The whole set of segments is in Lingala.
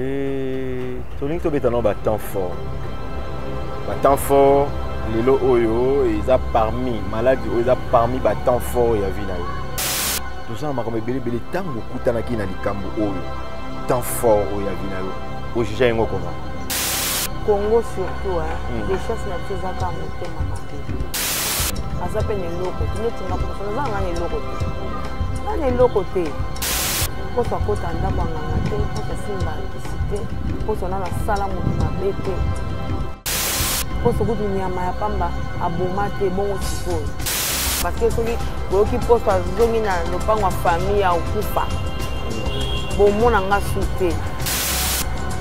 Et tolingi tobeta nao batemps fort batemps fort lelo oyo eza parmi maladi oyo eza parmi batemps fort ya vie na yo toza na makambo ebelebele ntango okutanaki na likambo oyo temps fort oyo ya vie na yo ojuge yango koma congo surtout hmm. richesse na biso ezaka motema mabe aza mpe na eloko tinetinakoaza nga na eloko te nga na eloko te mposo akota ndako ya nganga te mposo asimba kisi te mposo nano asala moto mabe te mposo kutu nyama ya pamba aboma te bongo sikoyo parceke soki oyoki mposo azongi na lopango ya famille ya okufa bomona nga su te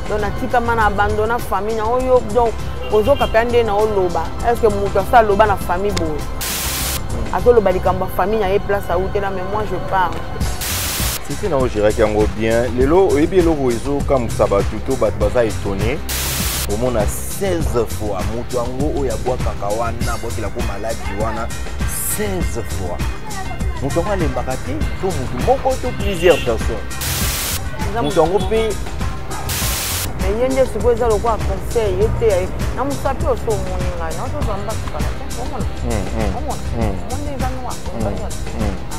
don natikama na abandona famille na oyo don ozoka mpe nde na oloba estce moto asa aloba na famille boye azoloba likambo ya famille na ye place autela mais moi je parle sisi na ogéraki yango bien lelo oyebi eloko ezokamwisa bato to bato baza étonné omona 16 fois moto yango oyo abwakaka wana abwakela ko maladi wana 16 fois moto yango alembaka te to moto moko to plusieurs personnes moto yango mpe ye nde sikoyo eza lokola conseil ye te yaye na mosa mpe oso omoni ngai naotozwa mbakikala omona omona omona eza noir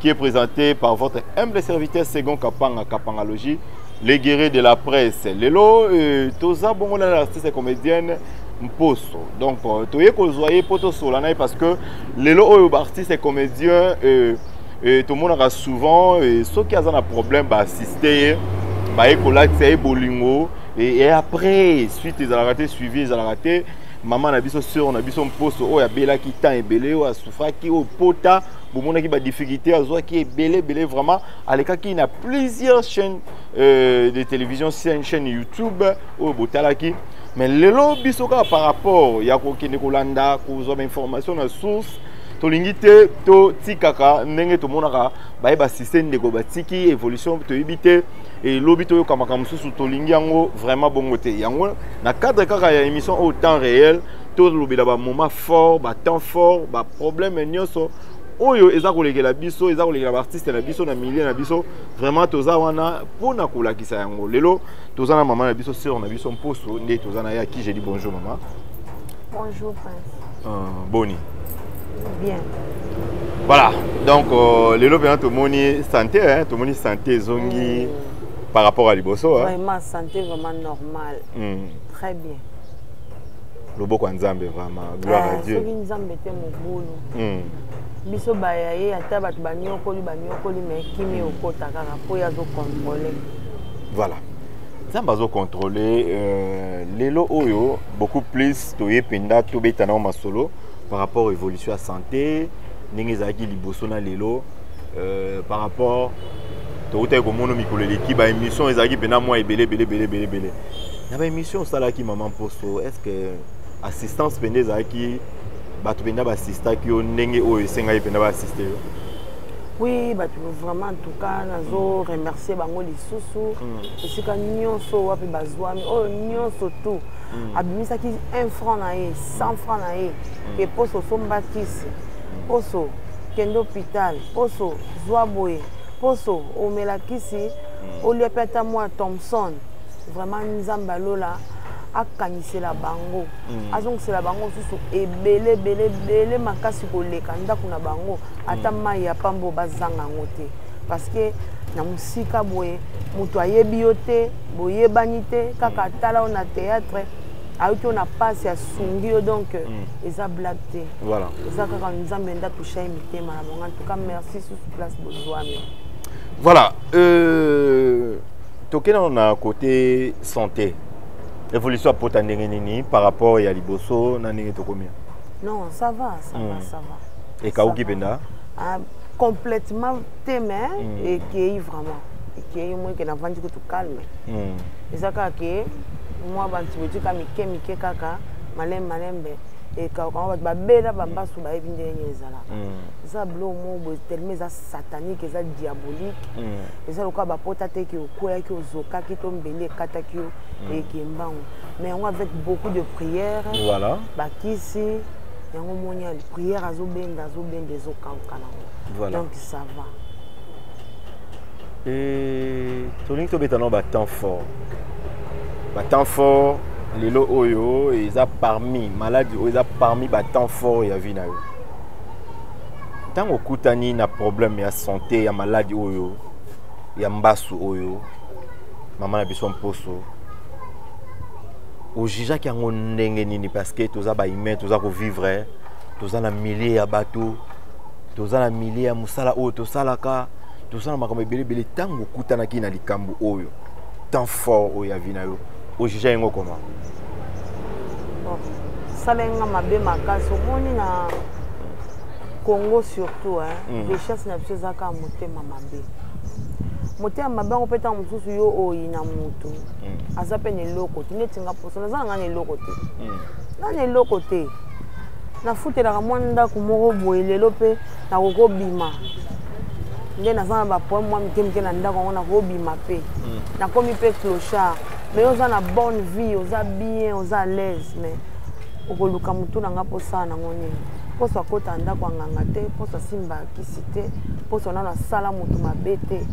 qui est présenté par votre humble serviteur Second Kapanga Kapangalogie, les guerriers de la presse. Lelo, euh, toza bongo na l'artiste comédienne Mposo. Donc, euh, toye ko zoye poto solana parce que lelo oyo ba artiste comédien euh, euh, tout le monde a souvent euh, ceux qui ont un problème ba assister ba ekola tsaye bolingo et, et après suite ils ont raté suivi ils ont raté maman na biso sœur na biso Mposo oyo abelaki temps ebele oyo asufaki au pota bomonaki ba difficulté azwaki ebele ebele vraiment alekaki na plusieurs chaînes euh, de télévision chaîne youtube oyo botalaki mais lelo biso kaka par rapport ya kokende kolanda kozwa bainformation na source tolingi te totikaka ndenge tomonaka baye basiste ndeko batiki évolution toyebi te elobi toyoka makambo mosusu tolingi yango vraiment bongo te yango na cadre kaka ya émission au temps réel tolobela bamoment fort ba temps fort ba problème nyonso oyo eza kolekela biso eza kolekela baartiste na biso na milieu na biso vraiment toza wana mpo na kolakisa yango lelo toza na mama na biso sœur na biso mposo nde toza na ye aki je dis bonjour mama bonjour prince uh, boni bien voilà donc euh, lelo mpenza tomoni santé hein, tomoni santé ezongi mm. par rapport à liboso hein. vraiment santé vraiment normal mm. très bien loboko ya nzambe vraiment gloire à eh, dieu soki nzambe te mobulu hmm. biso baya ye ata bato banyokoli banyokoli me kimi hmm. okota kaka mpo ye azokontrole voilà nzambe azokontrole euh, lelo oyo beaucoup plus toye mpenza tobeta nango masolo par rapport évolution ya santé ndenge ezalaki liboso na lelo euh, par rapport tokutaki komono mikolo eleki baémission ezalaki mpenza mwa ebele ebele ebele ebele ebele na ba émission osalaki mama mposo est ce que assistance mpenza ezalaki bato mpenza baasistaki yo ndenge oyo esengaki mpenza baassiste yo oui bato vraiment en tout cas nazo remercier bango lisusu hmm. esika nyonso wapi bazwami oyo nyonso tout hmm. abimisaki un franc na ye cent franc na ye hmm. ke mposo osomba kisi mposo kende hôpital mposo zwa boye mposo omela kisi olia mpe ata mwa thomson vraiment nzambe ya lola akanisela bango mm. azongisela bango mosusu ebele ebele ebele makasi koleka ndako na bango ata mm. mai ya pambo bazanga yango te parce que na mosika boye moto ayebi yo te boyebani te kaka mm. atala yo na théâtre ayuti yo na mpasi asungi yo donc mm. eza blague te voilà. eza kaka nzambe nde atusha ye mitema na bango en tout cas merci susu place bozwami voilà euh... toke nano na kote sante évolution ya pota ndenge nini par rapport ya liboso na ndenge tokomi non ça va ça va hmm. ça va ekauki mpenza ah, complètement te mais hmm. ekei vraiment ekei moi ke navandi kutu calme hmm. eza kaka ke mwa bantibotioka mike mike kaka malembe malembe ekaukango bato babela bambasu bayebi ndenge ezalaka eza bilo mo boye telema eza satanique eza diabolique eza lokola bapota te ke okweyaki ozokaki to mbeli ekataki yo mm. eke mbangu mais yango avec beaucoup de prière voilà. bakisi yango omoni ya prière azobenda azobenda ezokauka nango voilà. donc ça va e tolingi tobeta nao batemps fort batemps fort lelo oyo eza parmi maladi oyo eza parmi batemps fort ya vie na yo ntango okutani na problème ya sante ya maladi oyo ya mbasu oyo mama na biso mposo ojijaki yango ndenge nini parce que toza bahumain toza kovivre toza na milieu ya bato toza na milieu ya mosala oyo tosalaka toza na makambo ebele ebele ntango okutanaki na likambo oyo temps fort oyo ya vi na yo ojija yango koma salenga mabe makasi omoni na congo surtout mm. richesse na biso eza kaka motema mabe motema mabe yango mpe ntango mosusu yo oyina motu mm. aza mpe na eloko te neti nga mposo naza na ngai na eloko te mm. na na eloko te nafutelaka mwa ndako moko boye lelo mpe nakokobima nde naza na bapoeme mwa mike mike na ndako yango nakobima mpe mm. nakomi mpe clochard mais oza na bonne vie oza bien oza à l'aise mais okoluka motu na nga mpo osala nango nini mposo akota ndako ya nganga te mposo asimba kisi te mposo nano asala motu mabe te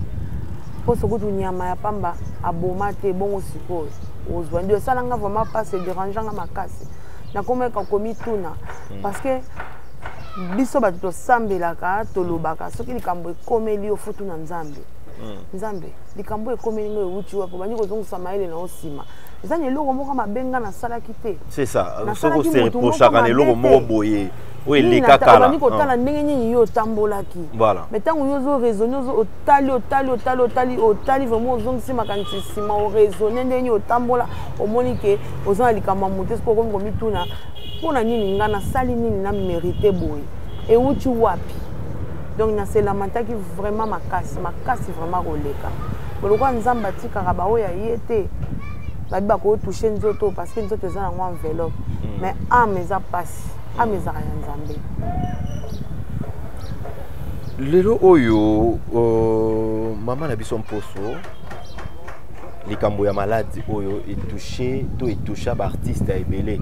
mposo kutu nyama ya pamba aboma te bongo sikoyo ozwa ndio esala nga vraiment mpasi ederange nga makasi nakomeka komituna hmm. parce que biso bato tosambelaka tolobaka soki likambo ekomeli yo futu na nzambe hmm. nzambe likambo ekomeli ngo ewuti wapi obandi kozongisa mayele na yo nsima eza na eloko moko mabe nga nasalaki te c'est ça soko se reprochaka na eloko moko boye oyo eleka kalani kotala ah. ndenge nini yo otambolaki mai ntango yo ozo raisonne otali otali otali otali otali vraimen ozongisi makanisi nsima oraisonne ndenge nini otambola omoni ke oza na likambo ya mote soki okomi komituna mpo na nini ngai nasali nini na merite boye euti wapi donc naselamataki vraiment makasi makasi vraiment koleka lokola nzambe atikaka baoyo ya ye te babi bako touche nzoto parce que nzoto eza nango enveloppe mm. mais ame eza mpasi ame ezaka ya nzambe lelo oyo uh, mama na biso mposo likambo ya maladi oyo etouche to etoucha baartiste ya ebele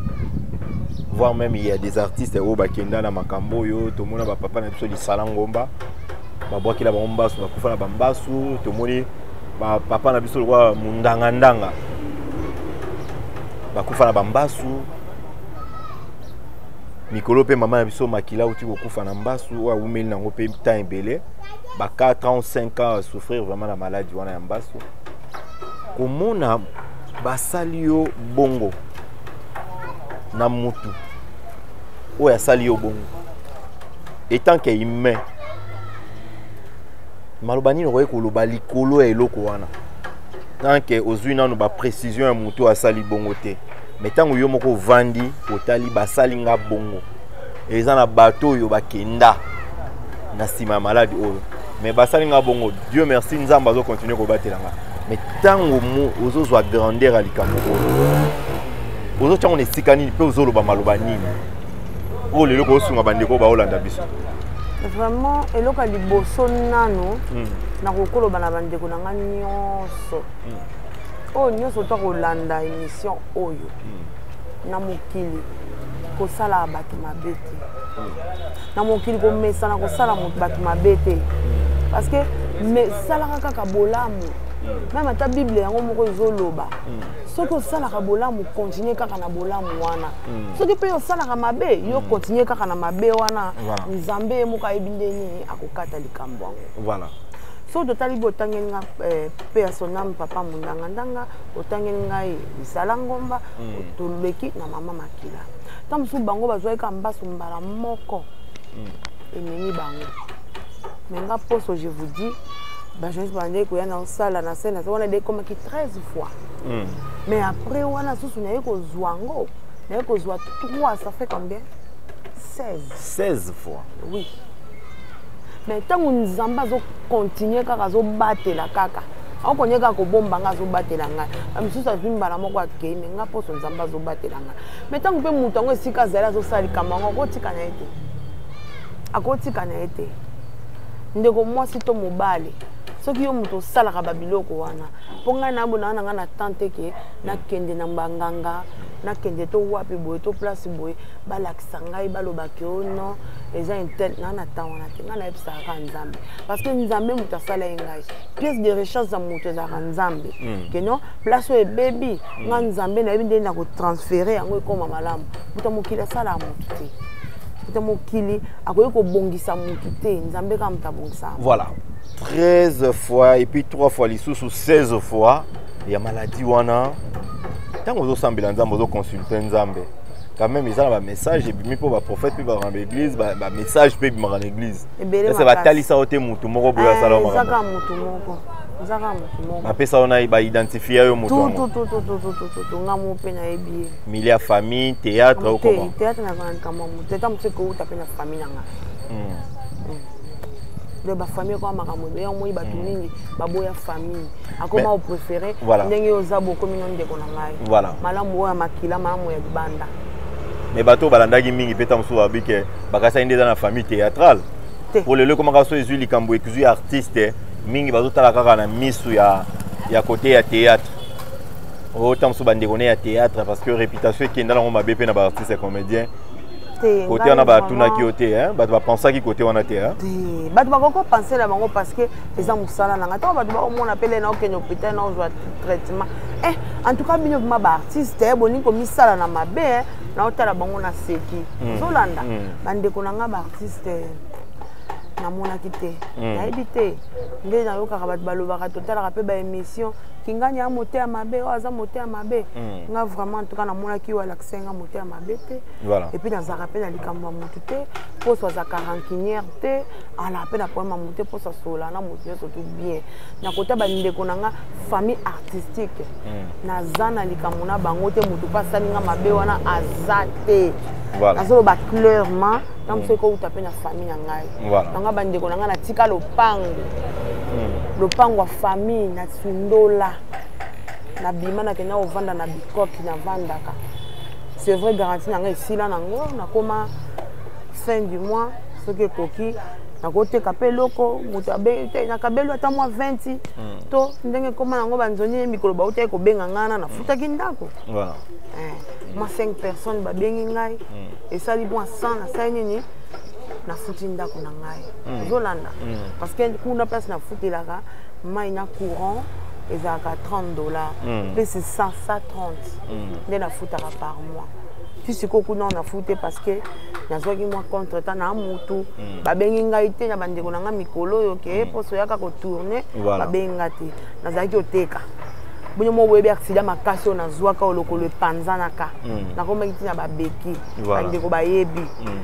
voire même il y a des artistes oyo bakenda na makambo oyo tomona bapapa na biso lisala ngomba babwakela bango mbasu bakufa na bambasu tomoni ba papa na biso lokola mundanga ndanga bakufa na bambasu mikolo mpe mama na biso makila auti kokufa na mbasu oyo awumeli nango mpe temps ebele ba 4 ans 5 ans souffrir vraiment na maladi wana ya mbasu komona basali yo bongo na mutu oyo asali yo bongo etant que humain maloba nini okoki koloba likolo ya eloko wana tanke ozwi nano baprecision ya motu asali bongo te me ntango yo moko ovandi otali basali nga bongo eza na bato oyo bakenda na nsima ya maladi oyo me basali nga bongo dieu merci nzambe azokontinue kobatela nga me ntango ozozwa grandeur ya likambo oyo ozotyango na esika nini mpe ozoloba maloba nini oyo lelo kosunga bandeko baolanda biso vraiment eloko ya liboso nano hmm. nakokoloba na bandeko na ngai nyonso hmm. oyo nyonso to kolanda émission oyo hmm. na mokili kosala bato mabe te na mokili komesana kosala bato mabe te parce que salaka kaka bolamu meme ata bible yango moko ezoloba soki osalaka bolamu continue kaka na bolamu wana soki mpe osalaka mabe yo mm. continue kaka na mabe wana nzambe ye moko ayebi nde nini akokata likambo yango voilà soki totali bo otangeli nga eh, mpe ya soname papa mondangandanga otangeli ngai lisala ngomba mm. toleki na mama makila nta mosusu bango bazwaki ka mbaso mbala moko mm. ememi bango me nga mposo je vous dis bajournaliste bandeki koya na osala na scène wana nde ekomaki 13 fois mm. mais après wana susu naye kozwa yango naye kozwa 3 ça fait combien 16 16 fois oui mais ntango nzambe azokontinue kaka azobatela kaka akokonye kaka kobomba ngai azobatela ngai mosusu azwi mbala moko akei me ngai mposo nzambe azobatela ngai mai ntango mpe moto yango esika azali azosala likambo yango akotika na ye te akotika na ye te ndeko mwasi to mobali soki yo moto osalaka babiloko wana mpo ngai na bonanga na ngai na temps te ke nakende na banganga nakende to wapi boye to place boye balakisa ngai baloba ke o oh non eza intel na na temps wana te ngai nayebisaka kaka nzambe parce que nzambe moto asala ye ngai pièce de recherche ya moto ezalaka nzambe hmm. ke non place oyo ebebi hmm. ngai nzambe nayebi ndenge na kotransfere yango ekoma malamu moto ya mokili asalaka moto te moto ya mokili akoki kobongisa moto te nzambe kaka moto abongisaka voilà 13 fois et puis 3 fois lisusu 16 fois ya maladie wana ntango ozosambela nzambe ozoconsulte nzambe quand même eza na bamessage ebimi mpo baprophète mpe bakanga baeglise bamessage mpe ebimaka na eglise ese batalisa yo te motu moko boye asala yo makambo bapesa yo na baidentifie yo motunga mo mpe nayebi ye mili ya famille théâtre okoma théâtre nazalaka likambo ya motu eta mosu ekouta mpe na famille na ngai donc bafamille ekoma makambo ebe yango omoni bato mm. mingi baboya famille akoma opréféré ndenge yo oza bokomi no ndeko na ngai malamu oyo ya makila malamu ya libanda me bato oyo balandaki mingi mpe ntango mosusu babi ke bakasaki nde eza na famille théâtrale po lelo ekomaka so ezwi likambo ekizwi artiste mingi bazotala kaka na misu ya, ya kote ya théâtre oyo oh, ntango mosusu bandeko ne ya théâtre parce que réputation ekenda nango mabe mpe na baartiste comédien kote wana batunaki yo te bato bapensaki kote wana te bato bakoki kopense na bango parce que eza mosala na ngai ntango bato bakomona pele na okende hôpital na ozwa traitement eh, en tout cas bino vrima baartiste eh, bolingi komisala na mabe eh, naotala bango na seki hmm. ozolanda hmm. bandeko na ngai baartiste eh, namonaki te hmm. nayebi te nde nayokaka bato balobaka totalaka mpe baémission kingani ya moteya mabe oyo aza moteya mabe nga vraiment en tout cas namonaki oyo alakisa nga moteya mabe te voilà. et puis nazalaka mpe na likambo ya motu te mposo azalaka rancunière te alaka mpe na problème ya motu te mposo asola na motu nyonso tout bien na kota bandeko na nga famille artistique mm. naza na likambo na bango te motu mpe asali nga mabe wana aza te voilà. azoloba clairement na mosu ekouta mpe na famille na ngai voilà. nanga bandeko na ngai natika lopango mm. lopango ya famille na sundola nabima nakenda kovanda na bikoki navandaka c'est vrai garantie na ngai esila nango nakoma fin du mois soki ekoki nakoteka mpe eloko moto nakabelo ata mwa 20 hmm. to ndenge ekoma yango banzoni mikolo bautaki kobenga ngai na nafutaki ndako eh, mwa 5 personne babengi ngai hmm. esali mwa 100 nasali nini nafuti ndako na ngai hmm. ozolanda parce que kuna place nafutelaka mai na courant ezalaka 30 dollars mpe sisasa 30 mm. nde nafutaka par mois ti sikoyo kuna na fute parce que nazwaki mwa contre temps na mutu mm. babengi ngai te na bandeko na ngai mikolo oyo ke mm. poso oyaka kotourne voilà. babengi ngai te nazalaki oteka bino mo boyebi aksida makasi oyo nazwaka oyo lokolo epanzanaka mm. nakomaki ntina babeki voilà. bandeko bayebi mm.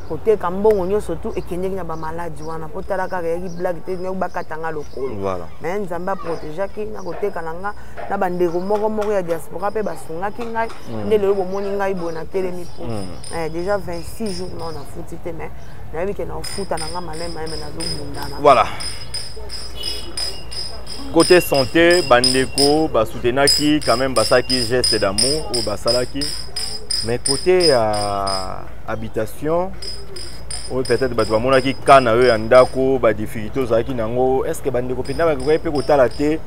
koteka mbongo nyonso tu ekendeki na bamaladi wana mpo tala kaka eyaki blage te bakatanga lokolo voilà. me nzambe aprotegeaki na koteka na nga na bandeko moko moko ya diaspora mpe basungaki ngai mm. nde lelo bomoni ngai boye natelemi mpo mm. eh, déjà 26 jours nao nafuti te mais nayebi ke naofuta na ngai malai maye me nazobundana voilà côté santé bandeko basoutenaki quand même basalaki geste d'amour oyo basalaki mais côté ya euh, habitation oyo peut-être bato bamonaki kana oyo ya ndako badifficulté ozalaki na yango est ce que bandeko mpenza bakoki mpe kotala te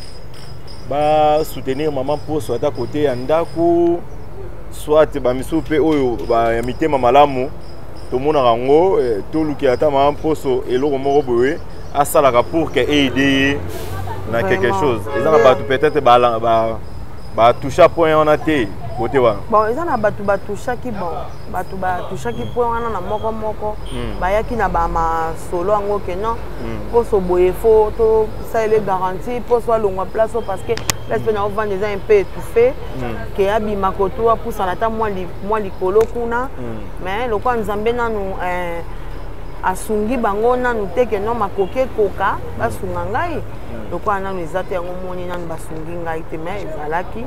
ba soutenir maman poso ata kote ya ndako soit bamisusu mpe oyo ba, ya mitema malamu tomonaka yango eh, tolukela ata mama mposo eloko moko boye asalaka pour ke eide ye na quelque chose eza na bato peut-être batoucha point wana te kote wana bon eza na bato batouchaki bon bato batouchaki point wana na moko moko hmm. bayaki na bamasolo yango ke non mposo hmm. boye fo to salele garantie mpo so alongwa place oyo parce que place mpe nao vanda eza un peu étouffé mm. ke abima kotu apusana ata mwa likolo kuna mm. mais lokola nzambe nanu eh, asungi bango nanu te ke no makoki ekoka basunga ngai mm. lokola nanu eza te yango moni nanu basungi ngai te mais ezalaki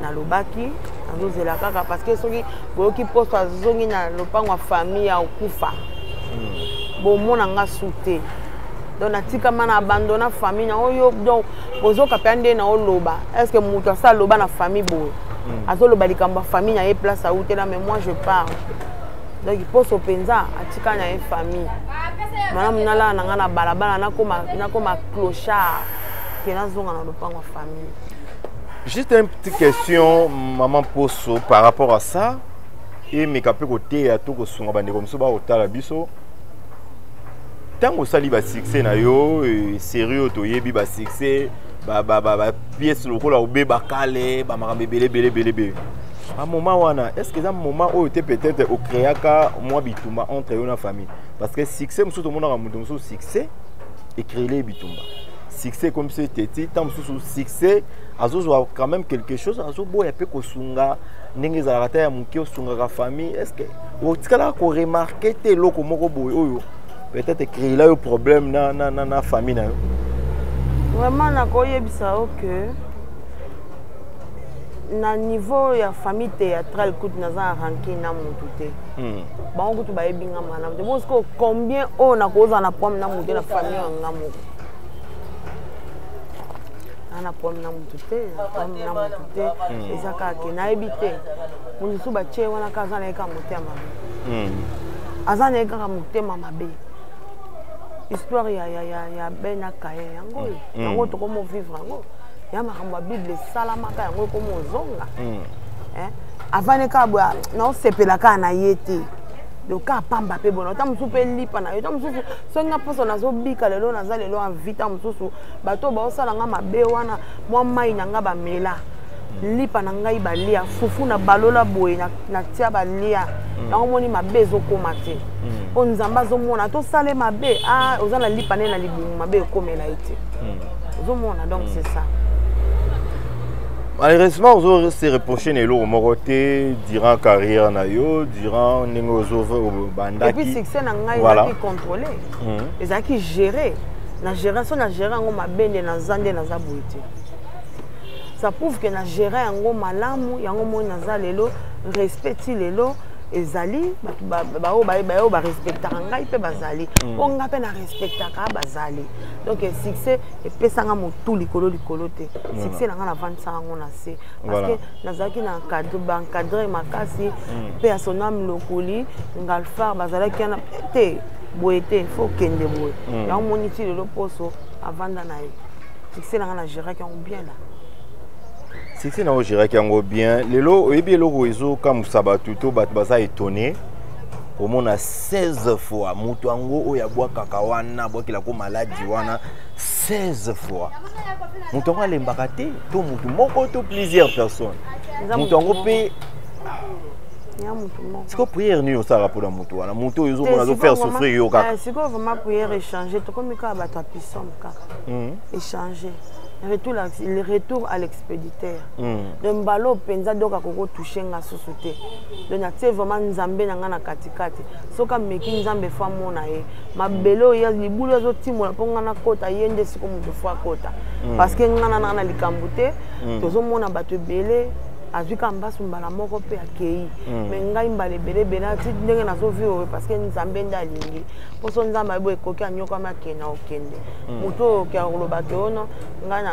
nalobaki nazozela kaka parce que soki boyoki poso azongi na lopango ya famille ya okufa bomona nga su te donc natikama na abandona famille na oyo donc bozoka mpe nde na oloba est ce que moto asi aloba na famille boye hmm. azoloba likambo ya famille na ye place autela mais moi je parle donc poso mpenza atika na ye famille malamu nalala na ngai na balabala nakoma clochard ke nazonga na lopango ya famille juste une petite question maman poso par rapport à ça emeka mpe koteya to kosunga bandeko mosusu bakotala biso ntango osali basuccès na yo eh, série oyo toyebi basuccès bapièce lokola obeba kale bamakambo ebele ebele ebele ebele a moment wana est ce que eza moment oyo te peut-être ocréaka mwa bitumba entre yo na famille parce que succès mosusu tomonaka moto mosusu succès ecréele bitumba succès ekomi biso ete ti ntango mosusu succès azozwa quand même quelque chose azoboya mpe kosunga ndenge ezalaka ta ya moke osungaka famille est ce que otikalaka koremarke te eloko moko boye oyo peut-être ecréela yo problème na, na, na, na famille na yo vraiment nakoyebisa yo ke na niveau ya famille théâtrale kutu naza na ranke na motu te hmm. bango kutu bayebi nga mwana moto bo sikoyo combien oyo oh, nakozala na problème na motu na famille ya nga moko ana problème na motu te na problème na motu te hmm. eza kaka ke nayebi te mosusu batie wana kaka aza na ye kaka motema mabe hmm. aza na ye kaka motema mabe histoire ya, ya, ya, ya ben akaye yango oyo hmm. yango tokomo vivre yango ya makambo ya bible esalamaka yango ekomi ozonga hmm. eh? avandi kaka boye naosepela kaka na ye te loka pamba mpe bona ota mosusu mpe lipa na yo ota mosusu soki nga mposo nazobika lelo naza lelo envita mosusu bato baosala nga mabe wana mwa mai na nga bamela lipa na ngai balia fufu na balola boye natia balia mm. yango moni mabe ezokoma te mm. mpo nzambe azomona tosale mabe ah, oza na lipa nde na libumu mabe ekomela ye te mm. ozomona donc c'est ça malheureusement ozo se reproche na eloko moko te durant carrière na yo durant ndenge ozobandaki succès na ngai ezalaki contrôlé ezalaki géré na géré so na géré yango mabe nde naza nde naza boye te ça prouve que na gérer yango malamu yango moni naza lelo respect ti lelo ezali baoyo bayo barespectaka ngai mpe bazali mpo mm. ngai mpe na respectaka bazali donc eh, succès epesanga motu likolo likolo te succès na ngai navandisa yango na se parce que nazalaki na baencadre makasi mm. mpe ya sonam lokoli ngalfar bazalaki wana te boye te fo okende boye mm. yango moni ti lelo poso avanda na ye succès na nga na géraki yango bien na succès na ogéraki yango bien lelo oyebi eloko ezokamwisa bato to bato baza étonné komona 16 fois moto yango oyo abwakaka wana abwakela ko maladi wana 16 fois moto yango alembaka te to moto moko to plusieurs personnes moto yango mpe siko priere nini osalaka mpona moto wana moto oyo ezomona azofaire souffrir yo kaka eh, sikoyo vraiment priere echange tokomi kaka bato ya pisome kaka mm. échanger retour le retour à l'expéditeur mm. de mbala oyo mpenza donc akokotouche nga susu te donc natie vraiment nzambe na ngai na katikati soki ameki nzambe fo amona ye mabele oyo libulu azotimola mpo ngai nakota ye nde siko moto fo akota mm. parce que ngai na nanga na likambo te mm. tozomona bato ebele azwi ka mbasu mbala moko mpe akei me ngai mbala ebele ebele ati ndenge nazovivre parce que nzambe nde alingi poso nzambe ayebi ekoki anyokwami akenda okende hmm. moto oyo oke akoloba ke ono ngai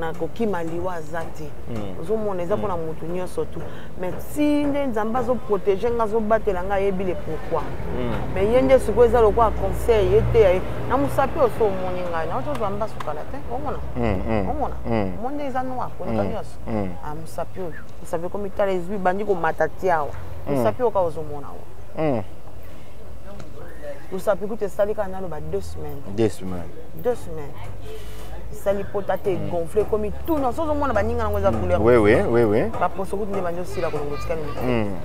nakokima liwa aza te hmm. ozomona eza mpona hmm. moto nyonso tu mais ti nde nzambe azoprotege ngai azobatela ngai ayebi le pourquoi mais ye nde sikoyo eza lokola conseil ye te yaye na mosapi oso omoni ngai na otozwa mba sukala te omona omona omoni nde eza noir koleka nyonso ah, mosapi oyo mosapi ekomitala ezwi bandi komata ti awa mosapi oyo kaka ozomona oyo mosapi kutu esali kaka naloba deux semaines deux semaines deux semaines esali pota te egonfle ekomi tout na sozo omona baninga nango eza couleur baposo kutu nde bandi osila kolongo etikali hmm.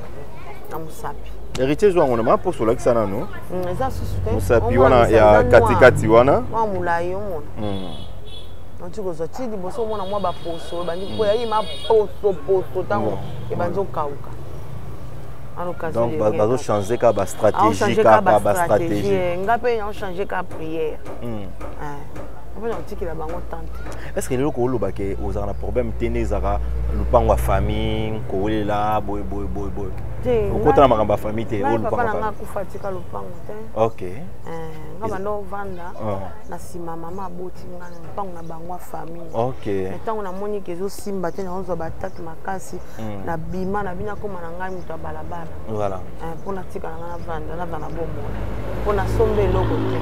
na mosapi héritier ezwa yango na maposo olakisa nano hmm, eza susu te mosapi wana ya katikati wana mwa molai omona hmm. okoki kozwa ti liboso omona mwa baposo ebandi mpo yayi maposoposo ntango ebandi okauka donc bazo changer kaka ba stratégie kaka ba stratégie eh, nga mpe nao changer kaka prière hmm. eh, otikela bango tante est ce que lelo kooloba ke ozalaka na problème te nde ezalaka lopango ya famille kowelela boye boye boye boye okota na makambo ya famille te papa na nga akufa atika lopango te ok eh, nga banda ovanda oh. na nsima mama aboti nga na lopango na bango ya famille ok ntango namoni ke ezosimba te naozwa batate makasi mm. na bima na bino akoma na ngai moto ya balabala voilà. eh, mpo natikala ngai navanda naza na bomoi mpo nasomba eloko te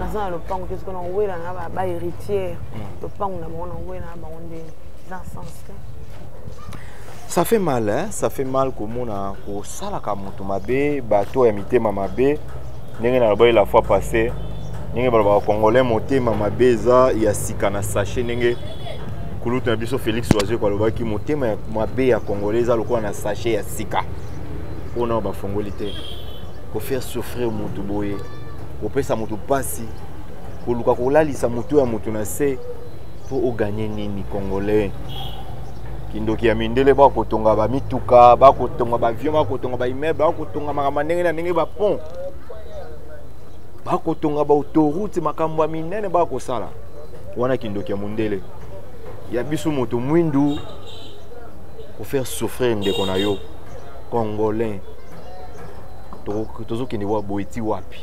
naza na lopango te soki nakowela na ba héritière mm. lopango na bango nakowela na bango nde eza sens te ça fait mal hein? ça fait mal komona kosalaka moto mabe bato ya mitema mabe ndenge nalobaki la fois passé ndenge balobaka congolais motema mabe eza ya sika na sachet ndenge kulutu na biso félix wazeko alobaki motema ya mabe ya congolais eza lokola na sachet ya sika mpo nao bafongoli te kofaire souffrir motu boye kopesa motu mpasi koluka kolalisa motu ya motu na se mpo oganye nini congolais kindoki ya mindele bakotonga bamituka bakotonga baavion bakotonga baimmeuble bakotonga makambo ya ndenge na ndenge bapont bakotonga baautourute makambo ya minene bakosala wana kindoki ya mundele ya biso moto mwindu kofaire souffrir ndeko na yo congolais tozokende wa boye ti wapi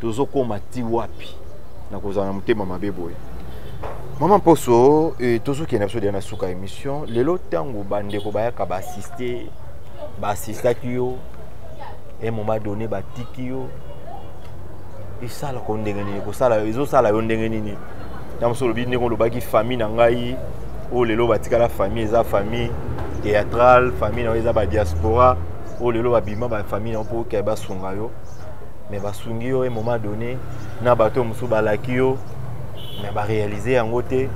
tozokoma ti wapi na kozala na motema mabe boye mama mposo eh, tozokende na biso deya na suka émission lelo ntango bandeko bayaka baassiste baassistaki yo un moment donné batiki yo esala ko ndenge nini kosala ezosala yo ndenge nini na mosu olobi ndenge olobaki famille na ngai oyo lelo batikala famille eza famille théâtrale famille na yo eza badiaspora oyo lelo babima bafamille na yo mpo okea basunga yo me basungi yo e moment donné na bato mosusu balaki yo me barealize yango te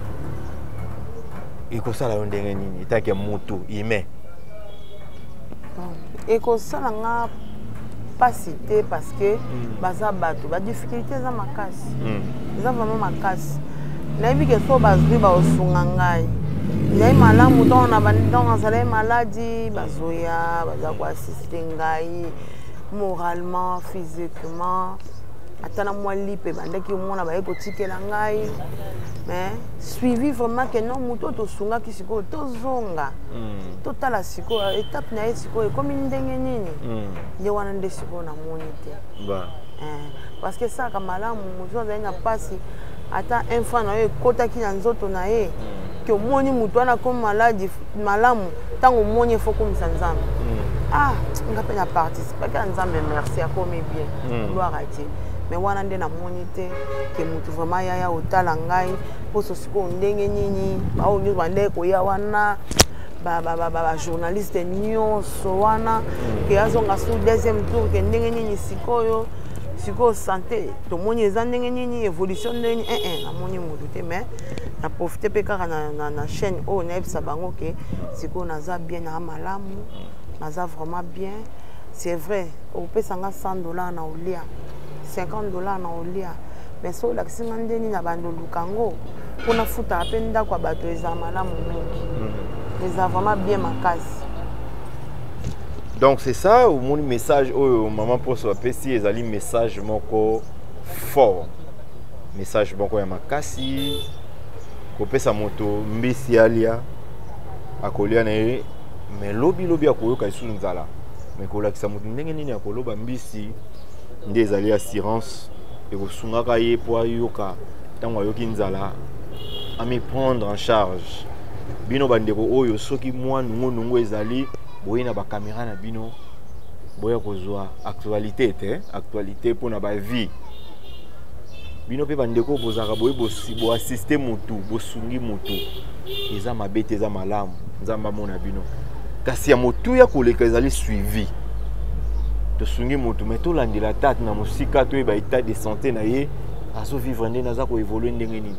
ekosala yo ndenge nini etake moto humain ekosala nga mpasi te parce que mm. baza bato badifficulté eza makasi mm. eza vraiment makasi nayebi ke so bazwi baosunga ngai ezali malamu ntango na bantango azalai maladi bazoya baza koasiste ngai moralement physiquement ata na mwa lipe ebandaki omona baye kotikela ngai mais suivi vraiment ke non moto oyo tosungaki sikoyo tozonga mm. totala sikoyo etape na ye po ekomi ndenge nini hmm. nde wana nde sikoyo namoni te eh, parce que esalaka malamu moto azali na mpasi ata un fois na yo ekotaki na nzoto na ye hmm. ke omoni moto wana akomi maladi malamu ntango omoni efo okomisa nzambe hmm. ah nga mpe na participaki na nzambe merci akomi bien gloire a dieu me wana nde namoni te ke motu vraiment yaya otala ngai mposo sikoyo ndenge nini baoyo nyonso bandeke koya wana bajournaliste nyonso wana hmm. ke azonga sur deuxième tour ke ndenge nini sikoyo sikoyo sante tomoni eza ndenge nini évolution ndenge nini ee eh, eh, namoni motu te mais na profite mpe kaka na, na, na chaîne oyo nayebisa bango ke sikoyo naza bien naa malamu naza vraiment bien c'est vrai opesa nga 100 dollar na olia 50 dollar na olia mais so olakisi nga ndeni na bando luka yango mpo nafutaka mpe ndako ya bato eza malamu mingi mhm. eza vraiment bien makasi donc c'est ça omoni message oyo mama mposo apesi ezali message moko fort message moko ya makasi kopesa moto mbisi alia akolia na ye me lobilobi akoyoka lisusu nzala me kolakisa moto ndenge nini akoloba mbisi nde ezali assurance ekosungaka ye mpo ayoka ntango ayoki nzala ami prendre en charge bino bandeko oyo soki mwa nungunungu ezali boye na bakamera na bino boya kozwa actualité te actualité mpo na bavie bino mpe bandeko bozalaka boye boassiste motu bosungi motu eza mabe te eza malamu nzambe amona bino kasi ya motuya koleka ezali suivi tosungi motu mai tolandela tate na mosika toyeba etat de santé na ye azo vivre nde naza ko évoluer ndenge nini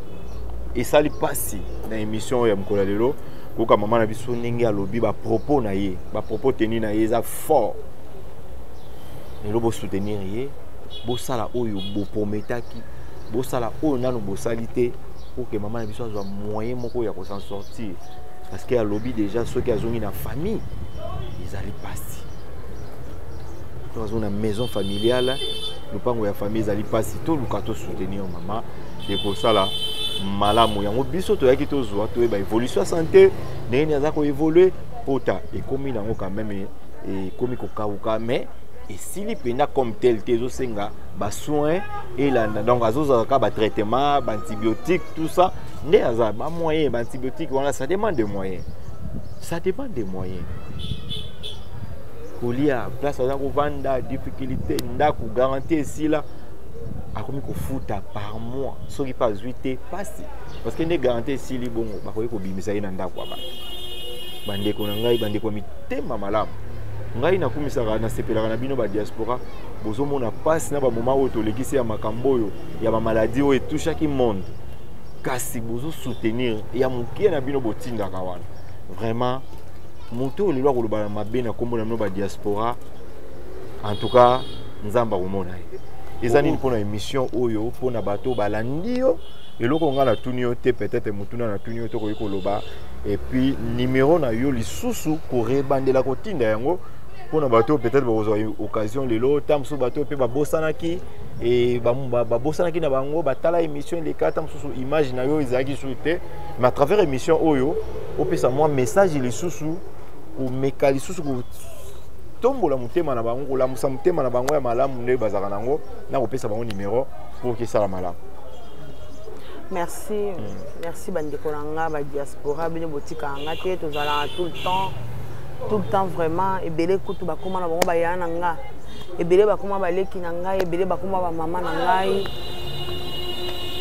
esali pasi na émission ya mokolo lelo koyoka mama na biso ndenge alobi ba propos na ye ba propos tenu na ye eza fort lelo bo soutenir ye bosala oyo boprometaki bosala oyo nanu bosali te pour que mama na biso azwa moyen moko ya ko s'en sortir parce que alobi déjà soki azongi na famille ezali pasi to azongi na maison familiale lopango ya famille ezali mpasi toluka tosoutenir mama ekosala malamu yango biso toyaki tozwa toyeba évolution ya santé ndenge nini aza koévolue pota ekomi nango quand même ekomi kokauka mais esili mpenza comme tel te ezosenga basoin elanda donc azozala kaka batraitement baantibiotique tout ça nde aza bamoyen baantibiotique wana ça demande de moyen ça demande de moyen kolia place aza kovanda difficulté ndako garanti esila akomi kofuta par mois soki mpe azwi te mpasi parce que nde garanti esili bongo bakoki kobimisa ye na ndako ya bato bandeko na ngai bandeko ya mitema malamu ngai nakumisaka nasepelaka na bino badiaspora bozomona mpasi na bamoma oyo tolekisi ya makambo oyo ya bamaladi oyo etushaki monde kasi bozosoutenir ya moke na bino botindaka wana vraiment moto oyo lelo akoloba na mabe na nkombo na bino badiaspora en tout cas nzambe akomona ye eza nini mpona émission oyo mpona bato oyo balandi yo eloko ngai natuni yo te peut-être motuna natuni yo te okoki koloba epuis nimero na yo lisusu korebandela kotinda yango mpona bato oyo peut-être bakozwa occasion lelo ntango mosusu bato oyo mpe babosanaki babosanaki na bango batala émission eleka ntango mosusu image na yo ezalaki lisusu te mais à travers émission oyo opesa mwa message lisusu komeka lisusu kotombola motema na bango kolamusa motema na bango ya malamu nde bazalaka na yango na kopesa bango nimero mpo kesala malamu merci mm. merci bandeko na nga badiaspora bino botikaka nga te tozalaka tout le temps tout le temps vraiment ebele kutu bakoma na bango baya na nga ebele bakoma baleki na ngai ebele bakoma bamama na ngai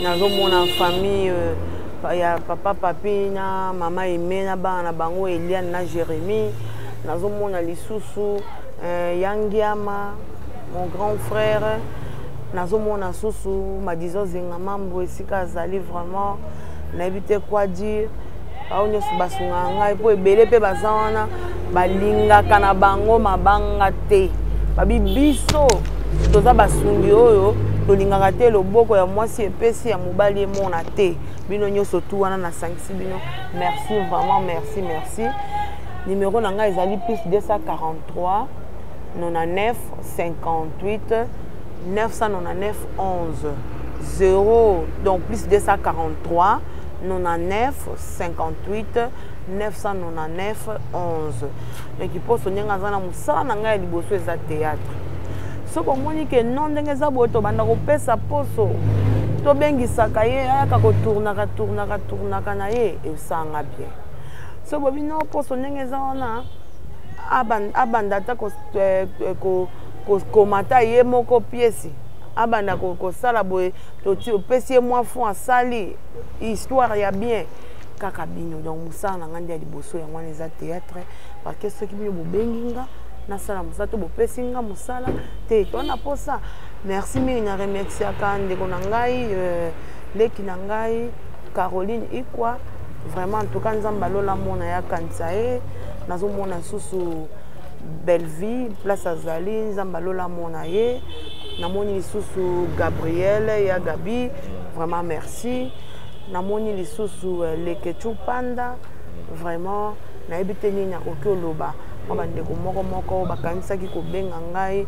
nazomona famille euh, ya papa papi na mama eme na bana na bango eliane na jérémie nazomona lisusu euh, yangiama mon grand frère nazomona susu madizo zenga mambo esika azali vraiment nayebi te quoi dire bango nyonso basungaka ngai mpo ebele mpe baza wana balingaka na bango mabanga te babi biso toza basungi oyo tolingaka te loboko ya mwasi epesi ya mobali emona te bino nyonso tu wana nasangisi bino merci vraiment merci merci nimero na ngai ezali plus 243 99 58 999 11 0 donc plus 243 99 58 999 11 me kiposo ndenge aza na mosala na ngai ya liboso eza théâtre soki omoni ke non ndenge eza boye tobanda kopesa poso tobengisaka ye ayaka kotournaka tournaka tournaka na ye esanga bien so bobi no poso ndenge eza wana abanda ata eh, eh, kokomata ye moko piesi abanda kosala boye opesi ye mwa fond asali histoire ya bien kaka bino donc mosala na ngai nde ya liboso yango wana eza théâtre parce que soki bino bobengi nga nasala mosala to bopesi nga mosala te to na mposa merci mingi na remerciaka ndeko na ngai euh, leki na ngai caroline ikwa vraiment en tout cas nzambe alola mona ya kanisa ye nazomona lisusu bellevie place azali nzambe alola mona ye namoni lisusu gabriel ya gabi vraiment merci namoni lisusu euh, leketchu panda vraiment nayebi te nini akoki oloba mwa bandeko moko moko bakanisaki kobenga ngai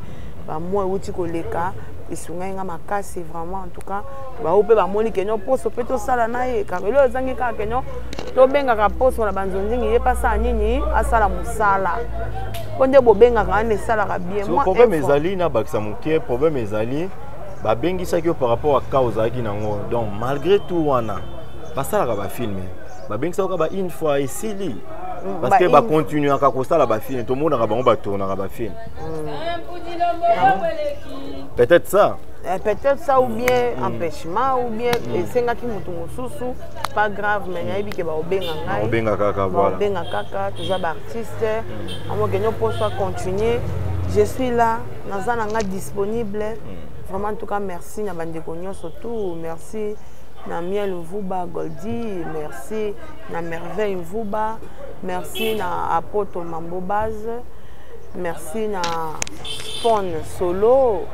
bamwa euti koleka esungai ngai makasi vraiment en tout cas bao mpe bamoni kenyo poso mpe tosala na ye kaka eloo ezangi kaka kenyo tobengaka poso na banzonzingi ye mpe asala nini asala mosala mpo nde bobengaka wana esalaka bien problème ezali nabakisa moke problème ezali babengisaki yo par rapport à cas ozalaki nango donc malgré tout wana basalaka bafilme babengisaka kaka ba une fois esili mm, parce que bacontinuaka kosala bafilme tomonaka bango batournaka bafilme mm. peut-être ça Eh, peut-être ça ou bien mm. empêchement ou bien mm. esengaki motu mosusu pas grave mais nayebi ke baobenga ngaiobenga kaka baobenga kaka toza baartiste mm. amokenyo mposo acontinue je suis là naza na nga disponible hmm. vraiment en tout cas merci na bandeko nyonso tout merci na miel mvuba goldi merci na merveille mvuba merci na apoto mambo base merci na pon solo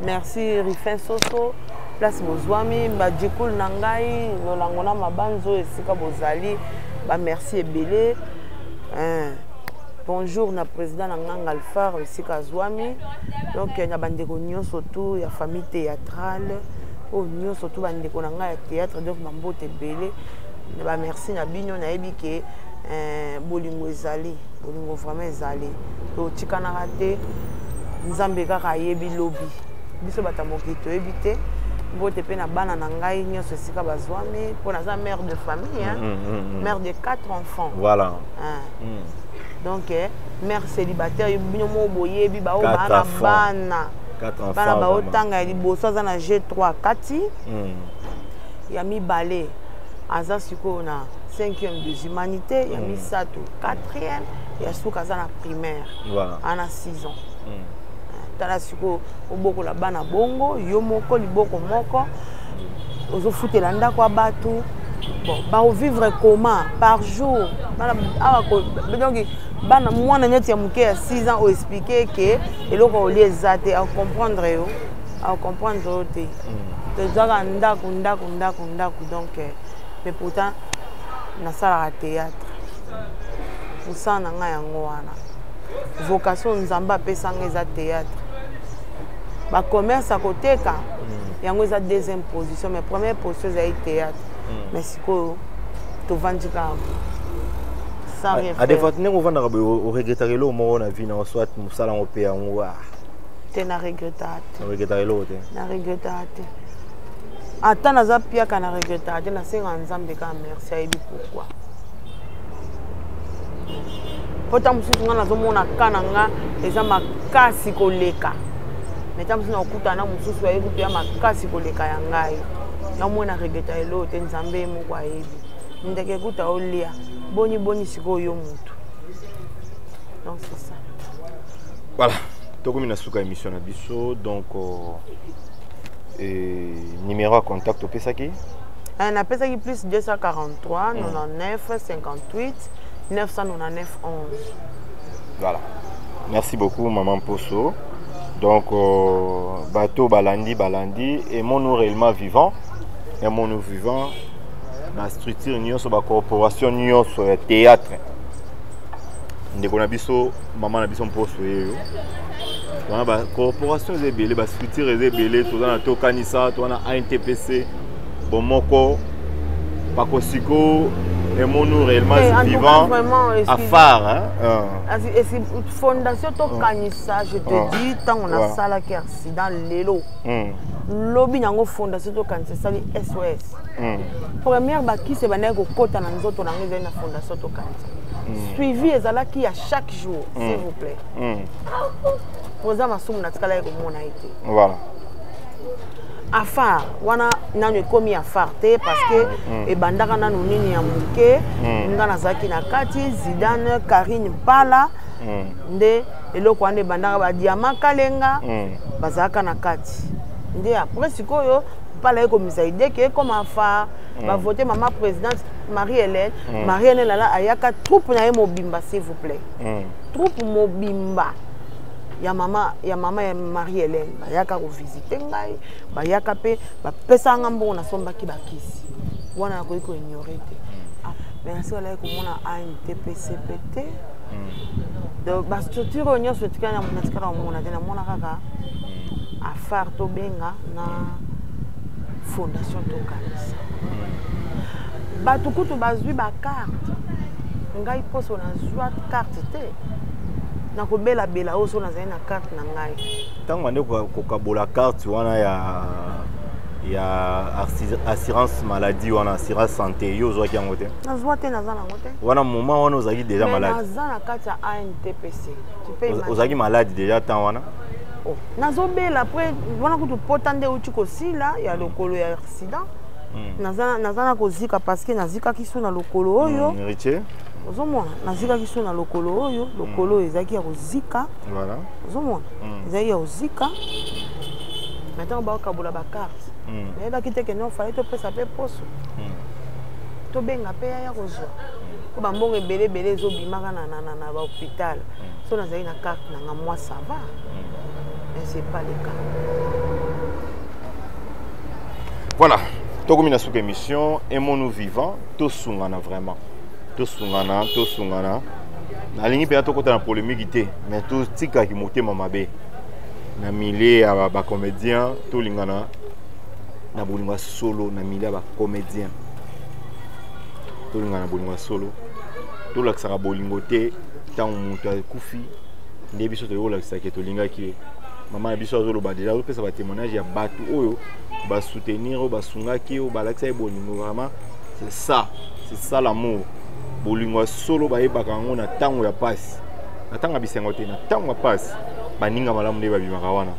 merci rifin soso place bozwami badjikul na ngai lolango na mabanzo esika bozali bamerci ebele hein. bonjour na président na nganga alphar esika azwami donc na bandeko nyonso tu ya famille théâtrale oyo nyonso tu bandeko na ngai ya théâtre donc bambote ebele na bamerci na bino nayebi ke eh, bolingo ezali bolingo vraiment ezali totikanaka te nzambe kaka ayebi lobi biso bato ya mokili toyebi te mbote mpe na bana na ngai nyonso esika bazwami mpo naza mare de famille hein? mm, mm, mm, mm. mare de quatre enfants voilà. hein. hmm. donc eh, mère célibataire bino moko boyebi baoyo baa na bana bana baotanga ya liboso aza na g 3 kati hmm. ya mibale aza sikoyo na 5e des humanités ya hmm. misato 4e ya suka aza na primaire ana 6 ans eh, tala sikoyo obokola bana bongo yo moko liboko moko ozofutela ndako ya bato bon bakovivre comment par jour ah, donc bana mwana neti ya moke ya 6 ans oexplike ke eloko ya olie eza te acomprendre yo acomprendre yo te mm. tozwaka ndako ndako ndako ndako donc euh, mais pourtant nasalaka théâtre mosala na ngai yango wana vocation nzambe apesanga eza théâtre bacommerce akoteka mm. yango eza deuxième position mais première position ezali théâtre hmm. mais sikoyo tovandi kaka adefat ndenge ovandaka boye oregretaka eloko moko na vie nao soit mosala yango mpe yango ah. te na regretaka te oregretaka eloko te na regretaka te ata naza piaka na regretaka te nasengaka nzambe kaka merci ayebi pourkui mpo ntango mosusu ngai nazomona ka na ngai eza makasi koleka mais ntango mosusu nakokutana na mosusu ayebi kutu ya makasi koleka ya ngai namona regeta eloo te nzambe ye moko ayebi ndeke kuta olia boni boni sikoyo yo motu donc c'est ça voilà tokomi na suka émission na biso donc euh, eh, numéro ya contact opesaki eh, napesaki plus 243 99 58 999 11 voilà merci beaucoup maman poso donc euh, bateau balandi balandi et mon réellement vivant et mon vivant ba structure nyonso ba corporation nyonso ya théâtre ndeko na biso mama na biso mposo yeyo wana ba corporation eza ebele ba structure eza ebele toza na tokanisa toza na antpc bomoko pakosiko emonu réellement hey, eh, vivant afar hein? uh. fondation tokanisa ah. je te ah. dis ntango ah. nasalaki accident lelo hmm. lobi na yango fondation tokanisa esali sos hmm. première bakisi ebandaki kokɔta na nzoto na yango ezali na fondation tokanisa hmm. suivi ezalaki ya chaque jour s'il vous plaît oza masumu natikalaki komona ye te afar wana nanu ekomi afar te parce que mm. ebandaka nanu nini ya moke mm. nga nazalaki na kati zidane karine mpala mm. nde eloko wana ebandaka badiama kalenga mm. bazalaka na kati nde après sikoyo mpala ekomisa ideke ekoma afar mm. bavote mama présidente marie hélène mm. marie hélène ala ayaka troupe na ye mobimba s'il vous plaît mm. troupe mobimba ya mama ya mama ya marie hélène bayaka kovisite ngai bayaka mpe bapesaka ngai mbongo nasombaki bakisi wana nakoki koignore te ah, mais nasi alaki komona antpcp te hmm. donc bastructure oyo nyonso etikali natikala komona te namona kaka hmm. afare tobenga na fondation tokanisa hmm. bato kutu bazwi bakarte ngai mposo nazwa karte te nakobelabela oyo so nazali na karte na ngai ntango bande kokabola carte wana ya ya assurance maladie wana assurance santé yo ozwaki yango te nazwa te naza nango te wana moment wana ozalaki déjà malade naza na kati ya antpc ozalaki malade déjà temps wana oh, nazobela après wana kutu pota nde euti kosila ya hmm. lokolo ya accident hmm. naza na kozika parce que nazikaki so na lokolo oyo hmm, ozomona nazikaki so na lokolo oyo lokolo oyo ezalaki ya kozika voilà ozomona mm. ezali ya ozika na ntango baokabola bakarte mm. nayebaki te kende ofali topesa mpe poso mm. tobenga mpe yaya kozwa mpo mm. bambongo ebele ebele ezobimaka na bahopital mm. so nazali na karte na nga mwa sava mm. mais c'est pas le cas voilà tokomi na suka émission aimons nous vivant tosungana vraiment tosungana tosungana nalingi mpenza tokota na polemiki te mais totikaki motema mabe na milieu ya bacomédien tolingana na bolingo ya solo na milieu ya bacomédien tolingana na bolingo ya solo tolakisaka bolingo te ntango moto akufi nde biso toyei kolakisake tolingaki ye mama na biso azoloba deja azopesa batémoignage ya bato oyo basoutenir oyo basungaki oyo balakisaki bolingo vraiment c'est ça c'est ça l'amour bolingo ya solo bayebaka yango na ntango ya pasi na ntango ya bisengo te na ntango ya pasi baninga malamu nde babimaka wana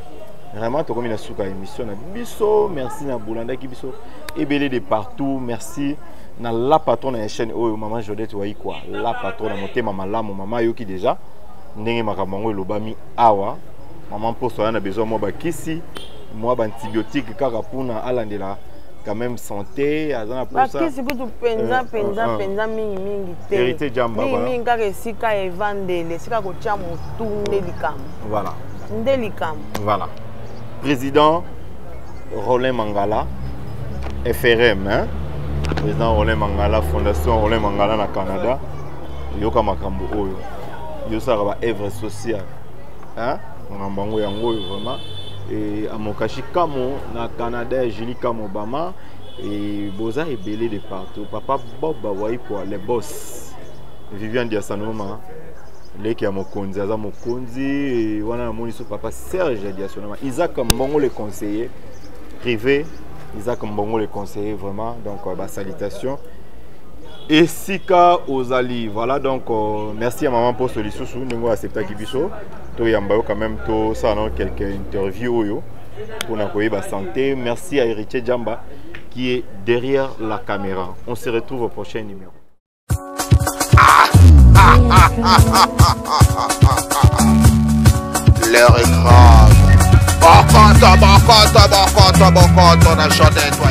vraiment tokomi na suka ya émission na biso merci na bolandaki biso ebele de partout merci na la patrone ya chaîne oyo mama jodete waikwa la patrone ya motema malamu mama ayoki déjà ndenge makambo yango elobami awa mama mposo aya na besoin mwa bakisi mwa baantibiotique kaka mpona alandela quand même santé aza na posa bakisi kutu mpenza mpenza euh, euh, euh. mpenza mingi mingi te hérité jamba mingi mingi kaka esika evandeli esika kotya motu nde likambo voilà nde likambo voilà président Roland Mangala FRM hein? président Roland Mangala fondation Roland Mangala na Canada yoka makambo oyo yo osalaka ba œuvre sociale hein makambo yango yango oyo vraiment et amokashi kamo na canada ya julie kamo obama et boza ebele de partout papa bob waikwa le boss vivian diasanoma leki ya mokonzi aza mokonzi wana namoni so papa serge ya diasanoma isaac mbongo le conseiller privé isaac mbongo le conseiller vraiment donc euh, basalutation esika ozali voilà donc euh, merci ya mama mposo lisusu ndenge oyo acceptaki biso toyamba yo quand même tosala nao quelque interview oyo mpona koyeba santé merci à héritier jamba qui est derrière la caméra on se retrouve au prochain numéro L'heure est grave. Bokoto, bokoto, bokoto, bokoto, na chanté, toi,